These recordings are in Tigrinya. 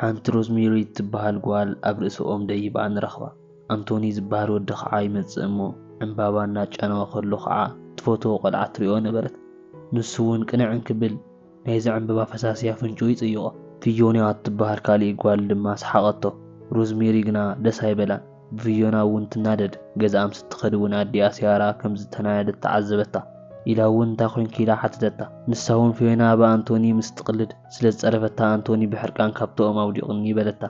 ሓንቲ ሮዝሜሪ እትበሃል ጓል ኣብ ርእሲ ኦም ደይባ ንረኽባ። ኣንቶኒ ዝበሃል ወዲ ኸዓ ይመጽእ እሞ ዕምባባ እናጫነወ ከሎ ኸዓ ትፈትዎ ቆልዓ ትሪኦ ነበረት። ንሱውን ቅንዕ እንክብል ናይዛ ዕምበባ ፈሳሲ ኣፍንጭኡ ይጽይቖ። ፊዮና እትበሃል ካሊእ ጓል ድማ ሰሓቐቶ። ሮዝሜሪ ግና ደስ ኣይበላን። ብቪዮና እውን ትናደድ፣ ገዝኣ ምስ እትኸድ እውን ኣዲኣ ሲያራ ከም ዝተናደደት ተዓዘበታ። ኢላ እውን እንታይ ኮይንኪ ኢላ ሓተተታ። ንሳ እውን ፊዮና ብኣንቶኒ ምስ እትቕልድ ስለ ዝጸረፈታ ኣንቶኒ ብሕርቃን ካብቲ ኦም ኣውዲቑኒ በለታ።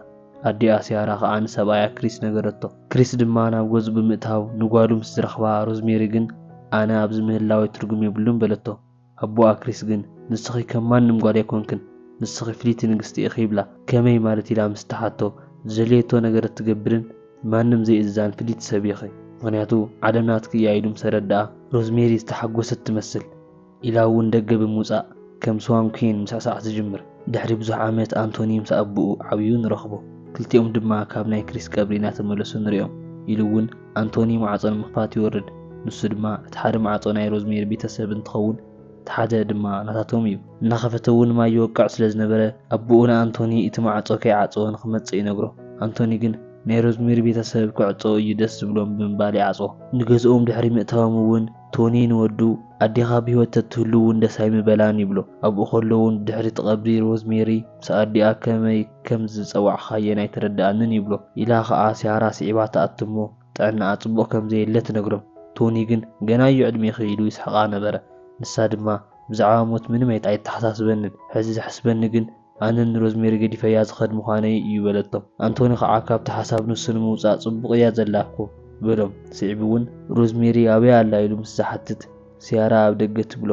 ኣዲኣ ሲያራ ኸኣ ንሰብኣያ ክሪስ ነገረቶ። ክሪስ ድማ ናብ ገዝኡ ብምእታው ንጓሉ ምስ ዝረኽባ ሮዝሜሪ ግን ኣነ ኣብዚ ምህላወይ ትርጉም የብሉን በለቶ። ኣቦ ኣክሪስ ግን ንስኺ ከም ማንም ጓል ኣይኮንክን ንስኺ ፍልይቲ ንግስቲ ኢኺ ይብላ። ከመይ ማለት ኢላ ምስ ትሓቶ ዝደለየቶ ነገር እትገብርን ንማንም ዘይእዝዛን ፍልይቲ ሰብ ኢኺ ምኽንያቱ ዓለም ናትኪ እያ ኢሉ ምስ ኣረድኣ ሮዝሜሪ ዝተሓጎሰት ትመስል ኢላ እውን ደገ ብምውጻእ ከም ስዋን ኩዊን ምስዕሳዕ ትጅምር። ድሕሪ ብዙሕ ዓመት ኣንቶኒ ምስ ኣቡኡ ዓብዩ ንረኽቦ ክልቲኦም ድማ ካብ ናይ ክሪስ ቀብሪ እናተመለሱ ንሪኦም ኢሉ እውን ኣንቶኒ ማዕጾ ንምኽፋት ይወርድ፣ ንሱ ድማ እቲ ሓደ ማዕጾ ናይ ሮዝሜሪ ቤተሰብ እንትኸውን እቲ ሓደ ድማ ናታቶም እዩ። እናኸፈተ እውን ማይ ይወቅዕ ስለ ዝነበረ ኣቦኡ ንኣንቶኒ እቲ ማዕጾ ከይዓጸወ ንኽመጽእ ይነግሮ። ኣንቶኒ ግን ናይ ሮዝሜሪ ቤተሰብ ክዕጸው እዩ ደስ ዝብሎም ብምባል ይዓጽዎ። ንገዝኦም ድሕሪ ምእታዎም እውን ቶኒ ንወዱ፣ ኣዴኻ ብህይወት ተትህሉ እውን ደስ ኣይምበላን ይብሎ። ኣብኡ ከሎ እውን ብድሕሪ እቲ ቀብሪ ሮዝሜሪ ምስ ኣዲኣ ከመይ ከም ዝጸዋዕካየን ኣይተረድኣንን ይብሎ። ኢላ ኸኣ ሲያራ ስዒባ ትኣቱ እሞ ጥዕናኣ ጽቡቕ ከም ዘየለ ትነግሮ። ቶኒ ግን ገና'ዩ ዕድሜኺ ኢሉ ይስሕቓ ነበረ። ንሳ ድማ ብዛዕባ ሞት ምንም ኣይተሓሳስበንን፣ ሕዚ ዘሕስበኒ ግን ኣነ ንሮዝሜሪ ገዲፈያ ዝኸድ ምዃነይ እዩ በለቶም። ኣንቶኒ ኸዓ ካብቲ ሓሳብ ንሱ ንምውጻእ ጽቡቕ እያ ዘላ እኮ በሎም። ስዒቡ እውን ሮዝሜሪ ኣበይ ኣላ ኢሉ ምስ ዝሓትት ሲያራ ኣብ ደገ ትብሎ።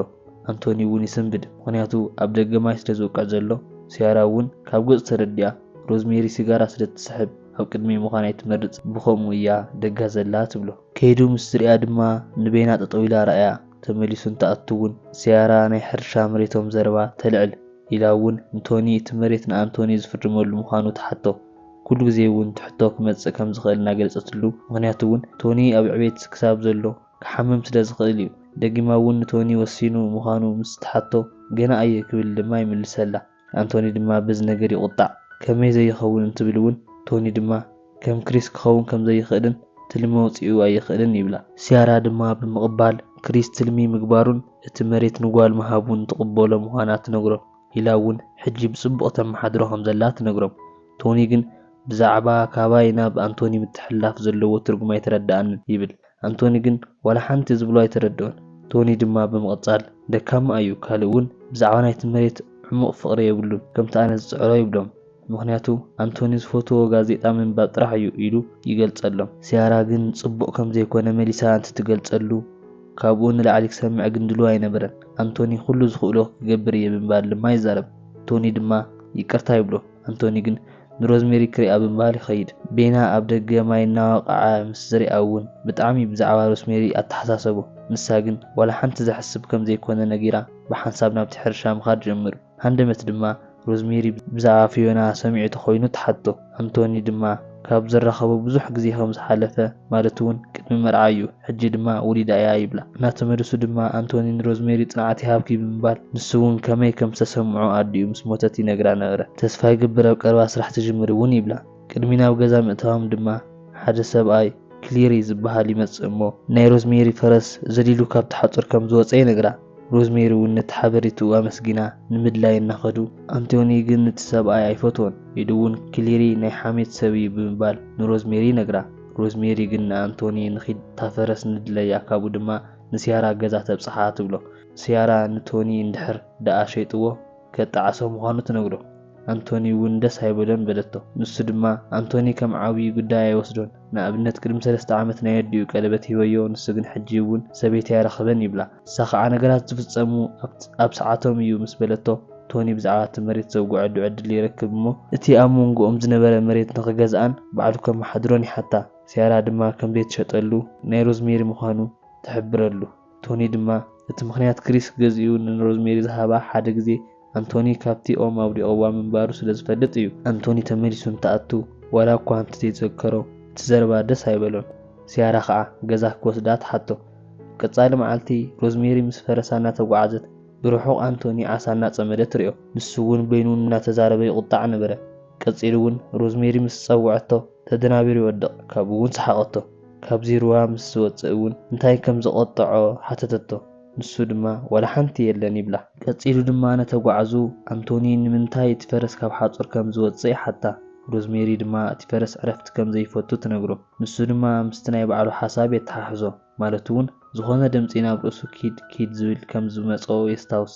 ኣንቶኒ እውን ይስንብድ ምኽንያቱ ኣብ ደገ ማይ ስለ ዝወቅዕ ዘሎ። ሲያራ እውን ካብ ገጹ ተረዲኣ ሮዝሜሪ ሲጋራ ስለ እትስሕብ ኣብ ቅድመይ ምዃን ኣይትመርጽን ብኸምኡ እያ ደጋ ዘላ ትብሎ። ከይዱ ምስ ዝርእያ ድማ ንበይና ጠጠው ኢላ ረኣያ ተመሊሱ እንትኣቱ እውን ሲያራ ናይ ሕርሻ መሬቶም ዘረባ ተልዕል። ኢላ እውን ንቶኒ እቲ መሬት ንኣንቶኒ ዝፍርመሉ ምዃኑ ትሓቶ። ኩሉ ግዜ እውን እቲ ሕቶ ክመጽእ ከም ዝኽእል እናገለጸትሉ፣ ምኽንያቱ እውን ቶኒ ኣብ ዕቤት ክሳብ ዘሎ ክሓምም ስለ ዝኽእል እዩ። ደጊማ እውን ንቶኒ ወሲኑ ምዃኑ ምስ ትሓቶ ገና እየ ክብል ድማ ይምልሰላ። ኣንቶኒ ድማ በዚ ነገር ይቑጣዕ። ከመይ ዘይኸውን እንትብል እውን ቶኒ ድማ፣ ከም ክሪስ ክኸውን ከም ዘይኽእልን ትልሚ ወጺኡ ኣይኽእልን ይብላ። ሲያራ ድማ ብምቕባል ክሪስ ትልሚ ምግባሩን እቲ መሬት ንጓል ምሃቡን ትቕበሎ ምዃና ትነግሮም። ኢላ እውን ሕጂ ብጽቡቕ ተመሓድሮ ከም ዘላ ትነግሮም። ቶኒ ግን ብዛዕባ ካባይ ናብ ኣንቶኒ ምትሕልላፍ ዘለዎ ትርጉም ኣይተረድኣንን ይብል። ኣንቶኒ ግን ዋላ ሓንቲ ዝብሎ ኣይተረድኦን። ቶኒ ድማ ብምቕጻል፣ ደካማ እዩ፣ ካልእ እውን ብዛዕባ ናይቲ መሬት ዕሙቕ ፍቕሪ የብሉን፣ ከምቲ ኣነ ዝጽዕሮ ይብሎም። ምኽንያቱ ኣንቶኒ ዝፈትዎ ጋዜጣ ምንባብ ጥራሕ እዩ ኢሉ ይገልጸሎም። ሲያራ ግን ጽቡቕ ከም ዘይኮነ መሊሳ እንትትገልጸሉ ካብኡ ንላዕሊ ክሰምዕ ግን ድሉው ኣይነበረን። ኣንቶኒ ኩሉ ዝኽእሎ ክገብር እየ ብምባል ድማ ይዛረብ፣ ቶኒ ድማ ይቅርታ ይብሎ። ኣንቶኒ ግን ንሮዝሜሪ ክሪኣ ብምባል ይኸይድ። ቤና ኣብ ደገ ማይ እናወቕዐ ምስ ዝሪኣ እውን ብጣዕሚ ብዛዕባ ሮስሜሪ ኣተሓሳሰቦ። ንሳ ግን ዋላ ሓንቲ ዘሕስብ ከም ዘይኮነ ነጊራ ብሓንሳብ ናብቲ ሕርሻ ምኻድ ጀምሩ። ሃንደበት ድማ ሮዝሜሪ ብዛዕባ ፊዮና ሰሚዑ ተኾይኑ ትሓቶ። ኣንቶኒ ድማ። ካብ ዝራኸቡ ብዙሕ ግዜ ከም ዝሓለፈ ማለት'ውን ቅድሚ መርዓ'ዩ፣ ሕጂ ድማ ወሊዳ እያ ይብላ። እናተመልሱ ድማ ኣንቶኒ ንሮዝሜሪ ጽንዓት ይሃብኪ ብምባል ንሱ'ውን ከመይ ከም ዝተሰምዖ ኣዲኡ ምስ ሞተት ይነግራ ነበረ። ተስፋ ይገብር ኣብ ቀረባ ስራሕ ትጅምሪ'ውን ይብላ። ቅድሚ ናብ ገዛ ምእታዎም ድማ ሓደ ሰብኣይ ክሊሪ ዝበሃል ይመጽእ እሞ ናይ ሮዝሜሪ ፈረስ ዘሊሉ ካብቲ ሓጹር ከም ዝወጸ ይነግራ። ሮዝሜሪ እውን ነቲ ሓበሬትኡ ኣመስጊና ንምድላይ እናኸዱ፣ ኣንቶኒ ግን ነቲ ሰብኣይ ኣይፈትዎን ኢሉ እውን ክሊሪ ናይ ሓሜት ሰብ እዩ ብምባል ንሮዝሜሪ ይነግራ። ሮዝሜሪ ግን ንኣንቶኒ ንኺድ እታ ፈረስ ንድለያ ካብኡ ድማ ንሲያራ ገዛ ተብጽሓ ትብሎ። ሲያራ ንቶኒ እንድሕር ደኣ ሸይጥዎ? ከጣዕሶ ምዃኑ ትነግሮ። ኣንቶኒ እውን ደስ ኣይበሎን በለቶ። ንሱ ድማ ኣንቶኒ ከም ዓብዪ ጉዳይ ኣይወስዶን። ንኣብነት ቅድሚ ሰለስተ ዓመት ናይ ኣዲኡ ቀለበት ሂበዮ ንሱ ግን ሕጂ እውን ሰበይቲ ኣይረኸበን ይብላ። ንሳ ከዓ ነገራት ዝፍፀሙ ኣብ ሰዓቶም እዩ ምስ በለቶ ቶኒ ብዛዕባ እቲ መሬት ዘውግዐሉ ዕድል ይረክብ እሞ እቲ ኣብ መንጎኦም ዝነበረ መሬት ንኽገዝኣን ባዕሉ ከመሓድሮን ይሓታ። ሲያራ ድማ ከም ዘይትሸጠሉ ናይ ሮዝሜሪ ምዃኑ ትሕብረሉ። ቶኒ ድማ እቲ ምኽንያት ክሪስ ገዚኡ ንሮዝሜሪ ዝሃባ ሓደ ግዜ ኣንቶኒ ካብቲ ኦም ኣውዲቕዋ ምንባሩ ስለ ዝፈልጥ እዩ። ኣንቶኒ ተመሊሱ እንትኣቱ ዋላ እኳ እንተዘይተዘከሮ እቲ ዘረባ ደስ ኣይበሎን። ሲያራ ኸኣ ገዛ ክወስዳ ትሓቶ። ቀጻሊ መዓልቲ ሮዝሜሪ ምስ ፈረሳ እናተጓዓዘት ብርሑቕ ኣንቶኒ ዓሳ እናጸመደ ትሪኦ። ንሱ እውን በይኑ እናተዛረበ ይቑጣዕ ነበረ። ቀጺሉ እውን ሮዝሜሪ ምስ ዝጸውዐቶ ተደናቢሩ ይወድቕ ካብኡ እውን ሰሓቐቶ። ካብዚ ሩባ ምስ ዝወጽእ እውን እንታይ ከም ዘቖጠዖ ሓተተቶ። ንሱ ድማ ዋላ ሓንቲ የለን ይብላ። ቀጺሉ ድማ ነተጓዕዙ ኣንቶኒ ንምንታይ እቲ ፈረስ ካብ ሓጹር ከም ዝወጽእ ይሓታ። ሮዝሜሪ ድማ እቲ ፈረስ ዕረፍቲ ከም ዘይፈቱ ትነግሮ። ንሱ ድማ ምስቲ ናይ ባዕሉ ሓሳብ የተሓሕዞ። ማለት እውን ዝኾነ ድምጺ ናብ ርእሱ ኪድ ኪድ ዝብል ከም ዝመጽኦ የስታውስ።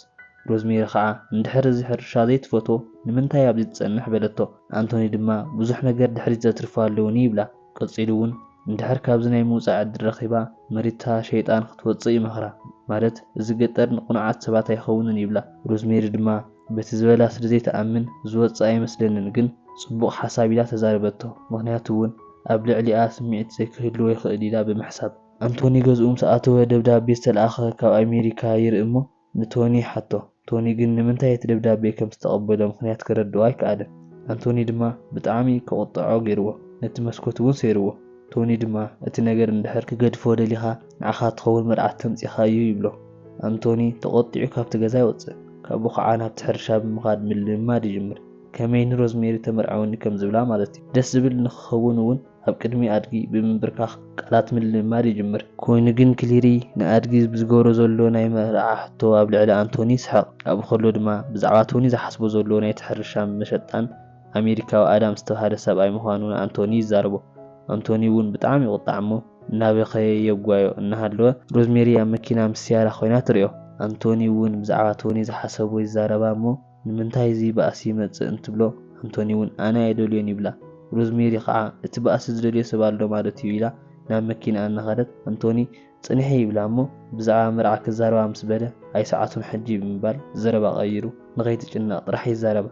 ሮዝሜሪ ከኣ እንድሕር እዚ ሕርሻ ዘይትፈትዎ ንምንታይ ኣብዚ ትጸንሕ በለቶ። ኣንቶኒ ድማ ብዙሕ ነገር ድሕሪት ዘትርፎ ኣለዉኒ ይብላ። ቀጺሉ ውን እንድሕር ካብዚ ናይ ምውጻእ ዕድል ረኺባ መሪታ ሸይጣን ክትወጽእ ይመኽራ ማለት እዚ ገጠር ንቅኑዓት ሰባት ኣይኸውንን ይብላ ሮዝሜሪ ድማ በቲ ዝበላ ስለ ዘይትኣምን ዝወጽእ ኣይመስለንን ግን ጽቡቅ ሓሳብ ኢላ ተዛረበቶ ምኽንያቱ ውን ኣብ ልዕሊኣ ስሚዒት ዘይክህልዎ ይኽእል ኢላ ብምሕሳብ። ኣንቶኒ ገዝኡ ምስ ኣተወ ደብዳቤ ዝተልኣኸ ካብ ኣሜሪካ ይርኢ እሞ ንቶኒ ሓቶ። ቶኒ ግን ንምንታይ እቲ ደብዳቤ ከም ዝተቐበሎ ምኽንያት ከረድኦ ኣይከኣለን። ኣንቶኒ ድማ ብጣዕሚ ከቑጥዖ ገይርዎ። ነቲ መስኮት እውን ሰይርዎ። ቶኒ ድማ እቲ ነገር እንድሕር ክገድፎ ደሊኻ ንዓኻ ትኸውን መርዓት ተምጺኻ እዩ ይብሎ። ኣንቶኒ ተቖጢዑ ካብቲ ገዛ ይወጽእ። ካብኡ ከዓ ናብቲ ሕርሻ ብምኻድ ምልምማድ ይጅምር። ከመይ ንሮዝሜሪ ተመርዕወኒ ከም ዝብላ ማለት እዩ። ደስ ዝብል ንክኸውን እውን ኣብ ቅድሚ ኣድጊ ብምንብርካኽ ቃላት ምልምማድ ይጅምር። ኮይኑ ግን ክሊሪ ንኣድጊ ብዝገብሮ ዘሎ ናይ መርዓ ሕቶ ኣብ ልዕሊ ኣንቶኒ ይስሕቕ። ኣብኡ ከሎ ድማ ብዛዕባ ቶኒ ዝሓስቦ ዘሎ ናይቲ ሕርሻን መሸጣን ኣሜሪካዊ ኣዳም ዝተብሃለ ሰብኣይ ምዃኑ ንኣንቶኒ ይዛረቦ። ኣንቶኒ እውን ብጣዕሚ ይቑጣዕ እሞ እናበኸየ የጓዮ እናሃለወ ሮዝሜሪ ኣብ መኪና ምስ ሲያራ ኮይና ትሪኦ። ኣንቶኒ እውን ብዛዕባ ቶኒ ዝሓሰቦ ይዛረባ እሞ፣ ንምንታይ እዚ ባእሲ ይመጽእ እንትብሎ ኣንቶኒ እውን ኣነ ኣይደልዮን ይብላ። ሮዝሜሪ ኸኣ እቲ ባእሲ ዝደልዮ ሰብ ኣሎ ማለት እዩ ኢላ ናብ መኪንኣ እናኸደት ኣንቶኒ ጽንሒ ይብላ እሞ ብዛዕባ መርዓ ክዛረባ ምስ በለ ኣይ ሰዓቱን ሕጂ ብምባል ዘረባ ቀይሩ ንኸይትጭነቕ ጥራሕ ይዛረባ።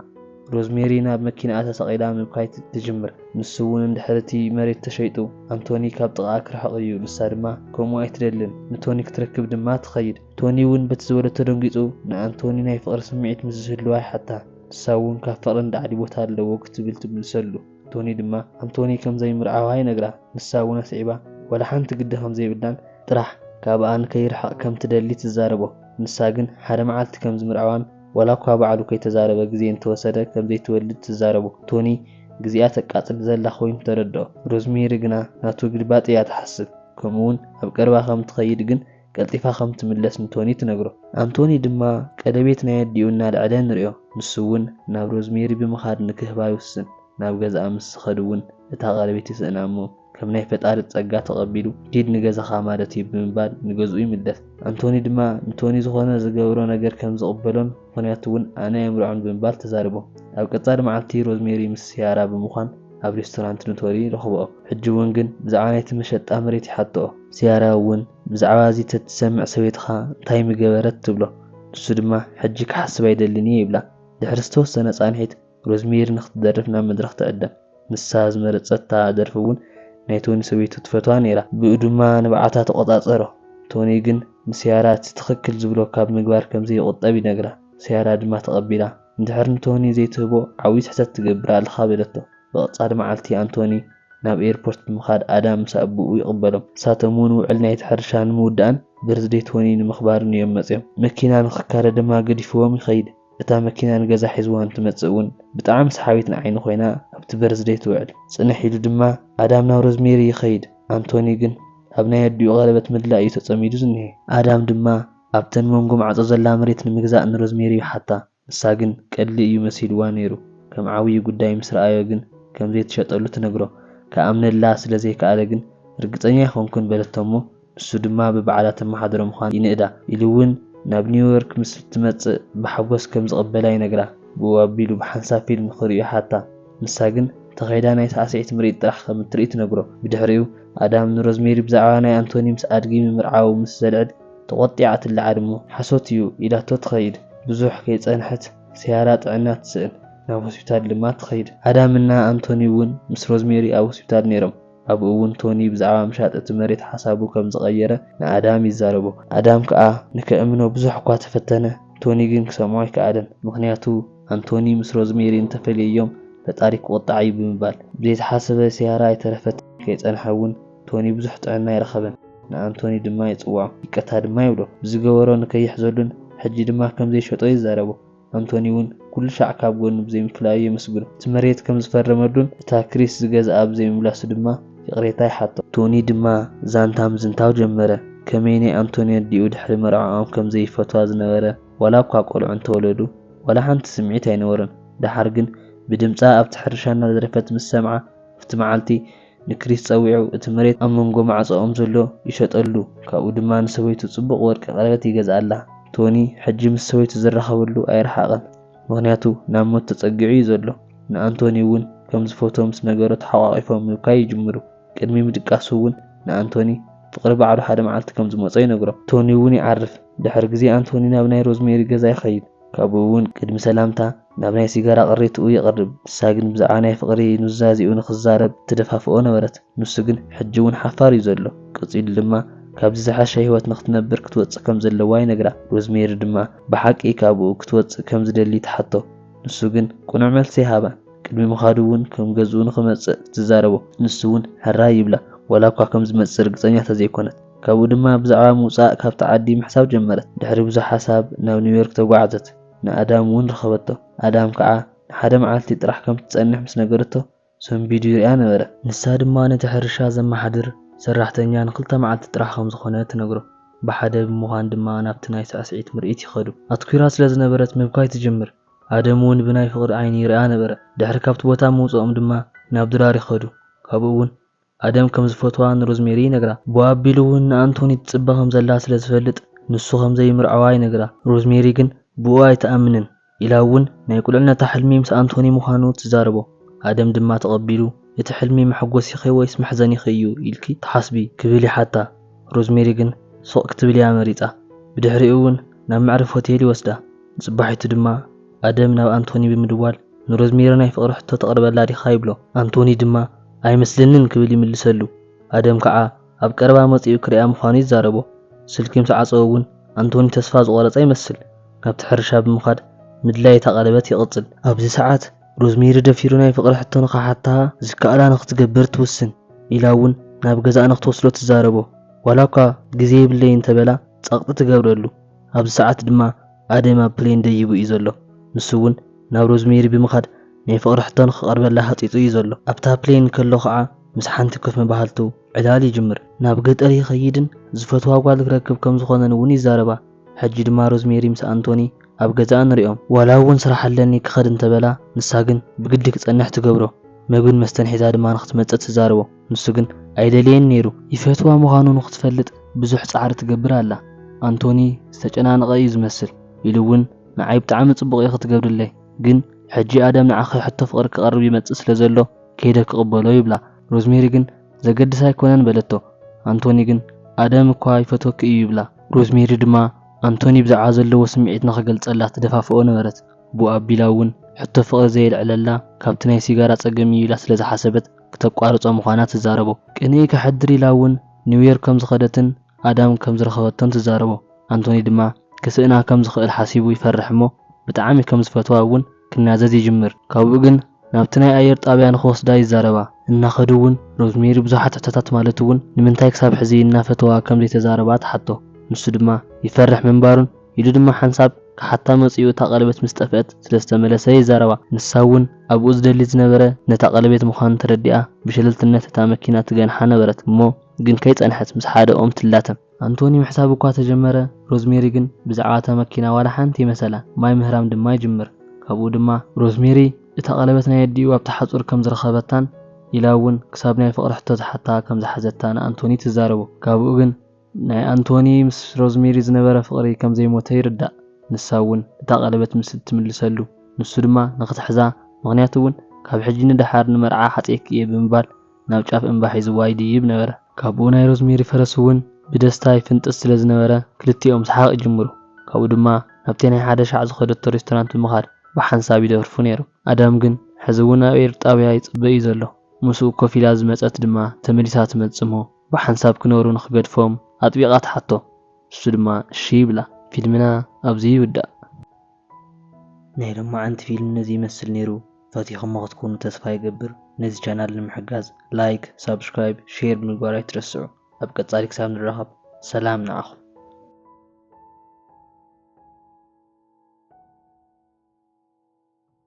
ሮዝሜሪ ናብ መኪንኣ ተሰቒላ ምብካይ ትጅምር። ንሱ እውን እንድሕሪ እቲ መሬት ተሸይጡ ኣንቶኒ ካብ ጥቓኣ ክርሕቕ እዩ ንሳ ድማ ከምኡ ኣይትደልን ንቶኒ ክትረክብ ድማ ትኸይድ። ቶኒ እውን በቲ ዝበሎ ተደንጊጹ ንኣንቶኒ ናይ ፍቕሪ ስምዒት ምስ ዝህልዋ ይሓታ። ንሳ እውን ካብ ፍቕሪ ንላዕሊ ቦታ ኣለዎ ክትብል ትምልሰሉ። ቶኒ ድማ ኣንቶኒ ከም ዘይምርዓዋ ይነግራ። ንሳ እውን ኣስዒባ ዋላ ሓንቲ ግዲ ከም ዘይብላን ጥራሕ ካብኣ ንከይርሕቕ ከም ትደሊ ትዛረቦ። ንሳ ግን ሓደ መዓልቲ ከም ዝምርዓዋን ዋላ እኳ ባዕሉ ከይተዛረበ ግዜ እንተወሰደ ከም ዘይትወልድ ትዛረቦ። ቶኒ ግዜኣ ተቃጽል ዘላ ኮይኑ ተረድኦ። ሮዝሜሪ ግና ናቱ ግልባጥ እያ ትሓስብ። ከምኡ'ውን ኣብ ቀረባ ከም ትኸይድ ግን ቀልጢፋ ከም ትምለስ ንቶኒ ትነግሮ። ኣንቶኒ ድማ ቀለቤት ናይ ኣዲኡ እናልዐለ ንሪኦ። ንሱ'ውን ናብ ሮዝሜሪ ብምኻድ ንክህባ ይውስን። ናብ ገዝኣ ምስ ዝኸድ'ውን እታ ቀለቤት ይስእና እሞ ከም ናይ ፈጣሪ ጸጋ ተቐቢሉ ኪድ ንገዛኻ ማለት'ዩ ብምባል ንገዝኡ ይምለስ። ኣንቶኒ ድማ ንቶኒ ዝኾነ ዝገብሮ ነገር ከም ዝቕበሎን፣ ምኽንያቱ እውን ኣነ ኣይምርዖን ብምባል ተዛሪቦም። ኣብ ቀፃሊ መዓልቲ ሮዝሜሪ ምስ ሲያራ ብምዃን ኣብ ሬስቶራንት ኑቶሪ ይረኽብኦ። ሕጂ እውን ግን ብዛዕባ ናይቲ መሸጣ መሬት ይሓትኦ። ሲያራ እውን ብዛዕባ እዚ ተትሰምዕ ሰበይትኻ እንታይ ምገበረት ትብሎ። ንሱ ድማ ሕጂ ክሓስብ ኣይደልን እየ ይብላ። ድሕሪ ዝተወሰነ ፃንሒት ሮዝሜሪ ንኽትደርፍ ናብ መድረኽ ትዕደም። ንሳ ዝመረጸታ ደርፊ እውን ናይ ቶኒ ሰበይቱ ትፈትዋ ነይራ። ብኡ ድማ ንብዓታ ተቖጻጸሮ። ቶኒ ግን ንሲያራ እቲ ትኽክል ዝብሎ ካብ ምግባር ከም ዘይቑጠብ ይነግራ። ሲያራ ድማ ተቐቢላ። እንድሕር ንቶኒ ዘይትህቦ ዓብዪ ስሕተት ትገብር ኣለኻ በለቶ። ብቐጻሊ መዓልቲ ኣንቶኒ ናብ ኤርፖርት ብምኻድ ኣዳም ምስ ኣቡኡ ይቕበሎም። ንሳቶም እውን ውዕል ናይቲ ሕርሻ ንምውዳእን በርዝደይ ቶኒ ንምኽባርን እዮም መጺኦም። መኪና ንኽካረ ድማ ገዲፍዎም ይኸይድ። እታ መኪና ንገዛ ሒዝዋ እንትመጽእ እውን ብጣዕሚ ሰሓቢት ንዓይኒ ኮይና ኣብቲ በርዝደይ ትውዕል። ጽንሕ ኢሉ ድማ ኣዳም ናብ ሮዝሜሪ ይኸይድ፣ ኣንቶኒ ግን ኣብ ናይ ኣዲኡ ቀለበት ምድላይ እዩ ተጸሚዱ ዝኒሀ። ኣዳም ድማ ኣብተን መንጎ ማዕጾ ዘላ መሬት ንምግዛእ ንሮዝሜሪ ይሓታ፣ ንሳ ግን ቀሊል እዩ መሲልዋ ነይሩ፣ ከም ዓብዩ ጉዳይ ምስ ረኣዮ ግን ከምዘይትሸጠሉ ትነግሮ። ክኣምነላ ስለዘይከኣለ ግን ርግጸኛ ኣይኮንኩን በለቶ እሞ፣ ንሱ ድማ ብባዕላ ተመሓድሮ ምዃን ይንእዳ ኢሉ እውን ናብ ኒውዮርክ ምስ እትመጽእ ብሓጎስ ከም ዝቕበላ ይነግራ። ብኡ ኣቢሉ ብሓንሳብ ፊልም ክርእዩ ይሓታ፣ ንሳ ግን ተኼዳ ናይ ሳዕስዒት ምርኢት ጥራሕ ከም እትርኢ ትነግሮ። ብድሕሪኡ ኣዳም ንሮዝሜሪ ብዛዕባ ናይ ኣንቶኒ ምስ ኣድጊ ምምርዓዉ ምስ ዘልዕል ተቖጢዓ ትለዓል እሞ ሓሶት እዩ ኢላቶ ትኸይድ። ብዙሕ ከይጸንሐት ሰያራ ጥዕና ትስእን፣ ናብ ሆስፒታል ድማ ትኸይድ። ኣዳም እና ኣንቶኒ እውን ምስ ሮዝሜሪ ኣብ ሆስፒታል ነይሮም። ኣብኡ እውን ቶኒ ብዛዕባ ምሻጥ እቲ መሬት ሓሳቡ ከም ዝቐየረ ንኣዳም ይዛረቦ። ኣዳም ከኣ ንከእምኖ ብዙሕ እኳ ተፈተነ፣ ቶኒ ግን ክሰምዖ ኣይከኣለን። ምኽንያቱ ኣንቶኒ ምስ ሮዝሜሪ እንተ ፈልየዮም ፈጣሪ ክቑጣዕ እዩ ብምባል። ብዘይተሓሰበ ሲያራ ኣይተረፈትን። ከይጸንሐ እውን ቶኒ ብዙሕ ጥዕና ኣይረኸበን። ንኣንቶኒ ድማ ይጽውዖ፣ ይቅርታ ድማ ይብሎ። ብዝገበሮ ንከይሕዘሉን ሕጂ ድማ ከም ዘይሸጦ ይዛረቦ። ኣንቶኒ ውን ኩሉ ሻዕ ካብ ጎኑ ብዘይምፍላዩ የመስግኖ። እቲ መሬት ከም ዝፈረመሉን እታ ክሪስ ዝገዝኣ ብዘይምምላሱ ድማ ይቕሬታ ይሓቶ። ቶኒ ድማ ዛንታ ምዝንታው ጀመረ። ከመይ ናይ ኣንቶኒ ኣዲኡ ድሕሪ መርዕዖም ከም ዘይፈትዋ ዝነበረ ዋላ እኳ ቆልዑ እንተወለዱ ዋላ ሓንቲ ስምዒት ኣይነበሮን። ደሓር ግን ብድምጻ ኣብቲ ሕርሻ እናደረፈት ምስ ሰምዓ ኣብቲ መዓልቲ ንክሪስ ጸዊዑ እቲ መሬት ኣብ መንጎ ማዕጾኦም ዘሎ ይሸጠሉ ካብኡ ድማ ንሰበይቱ ጽቡቕ ወርቂ ቀለበት ይገዝኣላ። ቶኒ ሕጂ ምስ ሰበይቱ ዝራኸበሉ ኣይረሓቐን ምኽንያቱ ናብ ሞት ተጸጊዑ እዩ ዘሎ። ንኣንቶኒ እውን ከም ዝፈትዎ ምስ ነገሮ ተሓቛቒፎም ምብካይ ይጅምሩ። ቅድሚ ምድቃሱ እውን ንኣንቶኒ ፍቕሪ ባዕሉ ሓደ መዓልቲ ከም ዝመጾ ይነግሮ። ቶኒ እውን ይዓርፍ። ድሕሪ ግዜ ኣንቶኒ ናብ ናይ ሮዝሜሪ ገዛ ይኸይድ ካብኡ እውን ቅድሚ ሰላምታ፣ ናብ ናይ ሲጋራ ቅሪትኡ ይቐርብ፣ ንሳ ግን ብዛዕባ ናይ ፍቕሪ ኑዛዜኡ ንኽዛረብ ትደፋፍኦ ነበረት። ንሱ ግን ሕጂ እውን ሓፋር እዩ ዘሎ። ቀጺሉ ድማ ካብዚ ዝሓሸ ህይወት ንኽትነብር ክትወጽእ ከም ዘለዋ ይነግራ። ሮዝሜሪ ድማ ብሓቂ ካብኡ ክትወጽእ ከም ዝደሊ ትሓቶ። ንሱ ግን ቅኑዕ መልሲ ኣይሃባን። ቅድሚ ምኻዱ እውን ከም ገዝኡ ንኽመጽእ ትዛረቦ። ንሱ እውን ሕራይ ይብላ፣ ዋላ እኳ ከም ዝመጽእ ርግጸኛ እንተ ዘይኰነት። ካብኡ ድማ ብዛዕባ ምውጻእ ካብቲ ዓዲ ምሕሳብ ጀመረት። ድሕሪ ብዙሕ ሓሳብ ናብ ኒውዮርክ ተጓዕዘት። ንኣዳም እውን ረኸበቶ፣ ኣዳም ከዓ ንሓደ መዓልቲ ጥራሕ ከም እትጸንሕ ምስ ነገረቶ፣ ሰንቢዱ ይርእያ ነበረ። ንሳ ድማ ነቲ ሕርሻ ዘመሓድር ሰራሕተኛ ንኽልተ መዓልቲ ጥራሕ ከም ዝዀነ ትነግሮ። ብሓደ ብምዃን ድማ ናብቲ ናይ ሳዕስዒት ምርኢት ይኸዱ። ኣትኲራ ስለ ዝነበረት ምብካይ ትጅምር፣ ኣደም እውን ብናይ ፍቕሪ ዓይኒ ይርእያ ነበረ። ድሕሪ ካብቲ ቦታ ምውጽኦም ድማ ናብ ድራር ይኸዱ፣ ካብኡ እውን ኣደም ከም ዝፈትዋ ንሮዝሜሪ ይነግራ። ብኣቢሉ'ውን ንኣንቶኒ ትጽበ ከም ዘላ ስለ ዝፈልጥ ንሱ ከም ዘይምርዐዋ ይነግራ። ሮዝሜሪ ግን ብኡ ኣይትኣምንን ኢላ'ውን ናይ ቁልዕነታ ሕልሚ ምስ ኣንቶኒ ምዃኑ ትዛረቦ። ኣደም ድማ ተቐቢሉ እቲ ሕልሚ መሐጎሲኺ ወይስ መሕዘኒኺ እዩ ኢልኪ ትሓስቢ? ክብል ይሓታ። ሮዝሜሪ ግን ሱቕ ክትብል'ያ መሪጻ። ብድሕሪኡ'ውን ናብ መዕረፊ ሆቴል ይወስዳ። ንጽባሒቱ ድማ ኣደም ናብ ኣንቶኒ ብምድዋል ንሮዝሜሪ ናይ ፍቕሪ ሕቶ ተቕርበላ ዲኻ ይብሎ። ኣንቶኒ ድማ ኣይመስለንን ክብል ይምልሰሉ። ኣደም ከዓ ኣብ ቀረባ መጺኡ ክሪኣ ምዃኑ ይዛረቦ። ስልኪ ምስ ዓጸወ እውን ኣንቶኒ ተስፋ ዝቖረጸ ይመስል። ናብቲ ሕርሻ ብምኻድ ምድላይ እታ ቀለበት ይቕጽል። ኣብዚ ሰዓት ሮዝሜሪ ደፊሩ ናይ ፍቕሪ ሕቶ ንኽሓታ ዝከኣላ ንኽትገብር ትውስን። ኢላ እውን ናብ ገዛኣ ንኽትወስዶ ትዛረቦ። ዋላኳ ግዜ የብለይን እንተበላ ጸቕጢ ትገብረሉ። ኣብዚ ሰዓት ድማ ኣደም ኣብ ፕሌን ደይቡ እዩ ዘሎ ንሱ ውን ናብ ሮዝሜሪ ብምኻድ ናይ ፍቕሪ ሕቶ ንኽቐርበላ ሃጺጹ እዩ ዘሎ። ኣብታ ፕሌን ከሎ ኸኣ ምስ ሓንቲ ኮፍ ምባህልቱ ዕላል ይጅምር። ናብ ገጠር ይኸይድን ዝፈትዋ ጓል ክረክብ ከም ዝኾነን ውን ይዛረባ። ሕጂ ድማ ሮዝሜሪ ምስ ኣንቶኒ ኣብ ገዛኣ ንሪኦም። ዋላ ውን ስራሕ ኣለኒ ክኸድ እንተበላ ንሳ ግን ብግዲ ክጸንሕ ትገብሮ። መግብን መስተን ሒዛ ድማ ንኽትመጽእ ትዛረቦ። ንሱ ግን ኣይደልየን ነይሩ። ይፈትዋ ምዃኑ ንኽትፈልጥ ብዙሕ ጻዕሪ ትገብር ኣላ። ኣንቶኒ ዝተጨናነቐ እዩ ዝመስል፣ ኢሉ እውን ንዓይ ብጣዕሚ ጽቡቕ እዩ ክትገብርለይ፣ ግን ሕጂ ኣዳም ንዓኺ ሕቶ ፍቕሪ ክቐርብ ይመጽእ ስለ ዘሎ ከይደ ክቕበሎ ይብላ። ሮዝሜሪ ግን ዘገድስ ኣይኮነን በለቶ። ኣንቶኒ ግን ኣዳም እኳ ይፈትወኪ እዩ ይብላ። ሮዝሜሪ ድማ ኣንቶኒ ብዛዕባ ዘለዎ ስምዒት ንኽገልጸላ ትደፋፍኦ ነበረት። ብኡ ኣቢላ እውን ሕቶ ፍቕሪ ዘየልዕለላ ካብቲ ናይ ሲጋራ ጸገም እዩ ኢላ ስለ ዝሓሰበት፣ ክተቋርጾ ምዃና ትዛረቦ። ቅንኢ ከሕድር ኢላ እውን ኒውዮርክ ከም ዝኸደትን ኣዳም ከም ዝረኸበቶን ትዛረቦ። ኣንቶኒ ድማ ክስእና ከም ዝኽእል ሓሲቡ ይፈርሕ እሞ ብጣዕሚ ከም ዝፈትዋ እውን ክናዘዝ ይጅምር። ካብኡ ግን ናብቲ ናይ ኣየር ጣብያ ንኽወስዳ ይዛረባ። እናኸዱ እውን ሮዝሜሪ ብዙሓት ሕቶታት ማለት እውን ንምንታይ ክሳብ ሕዚ እናፈተዋ ከም ዘይተዛረባ ትሓቶ። ንሱ ድማ ይፈርሕ ምንባሩን፣ ኢሉ ድማ ሓንሳብ ክሓታ መጺኡ እታ ቀለቤት ምስ ጠፍአት ስለ ዝተመለሰ ይዛረባ። ንሳ እውን ኣቡኡ ዝደሊ ዝነበረ ነታ ቀለቤት ምዃኑ ተረዲኣ ብሸለልትነት እታ መኪና ትገንሓ ነበረት እሞ ግን ከይጸንሐት ምስ ሓደ ኦም ትላተም። ኣንቶኒ ምሕሳብ እኳ ተጀመረ ሮዝሜሪ ግን ብዛዕባ እታ መኪና ዋላ ሓንቲ እይመሰላ ማይ ምህራም ድማ ይጅምር ካብኡ ድማ። ሮዝሜሪ እታ ቀለበት ናይ ኣዲኡ ኣብቲ ሓጹር ከም ዝረኸበታን ኢላ እውን ክሳብ ናይ ፍቕሪ ሕቶ ትሓታ ከም ዝሓዘታ ንኣንቶኒ ትዛረቦ ካብኡ ግን። ናይ ኣንቶኒ ምስ ሮዝሜሪ ዝነበረ ፍቕሪ ከም ዘይሞተ ይርዳእ፣ ንሳ እውን እታ ቀለበት ምስ እትምልሰሉ፣ ንሱ ድማ ንኽትሕዛ፣ ምኽንያቱ እውን ካብ ሕጂ ንደሓር ንመርዓ ሓጽየኪ እየ ብምባል ናብ ጫፍ እምባ ሒዝዋ ይድይብ ነበረ። ካብኡ ናይ ሮዝሜሪ ፈረስ እውን ብደስታ ይፍንጥስ ስለ ዝነበረ ክልቲኦም ሰሓቕ ይጅምሩ፣ ካብኡ ድማ ናብቲ ናይ ሓደ ሻዕ ዝኸደቶ ሬስቶራንት ብምኻድ ብሓንሳብ ይደርፉ ነይሮም። ኣዳም ግን ሕዚ እውን ኣብ ኤር ጣብያ ይጽበ እዩ ዘሎ፣ ምስኡ ኮፍ ኢላ ዝመጸት ድማ ተመሊሳ ትመጽእ እሞ፣ ብሓንሳብ ክነብሩ ንኽገድፎም ኣጥቢቓ ትሓቶ። ንሱ ድማ እሺ ይብላ። ፊልምና ኣብዚ ይውዳእ። ናይ ሎማዓንቲ ፊልም ነዚ ይመስል ነይሩ ፈቲኹሞ ክትኮኑ ተስፋ ይገብር ነዚ ቻናል ንምሕጋዝ ላይክ ሳብስክራይብ ሼር ብምግባር ኣይትረስዑ ኣብ ቀፃሊ ክሳብ ንራኸብ ሰላም ንዓኹም።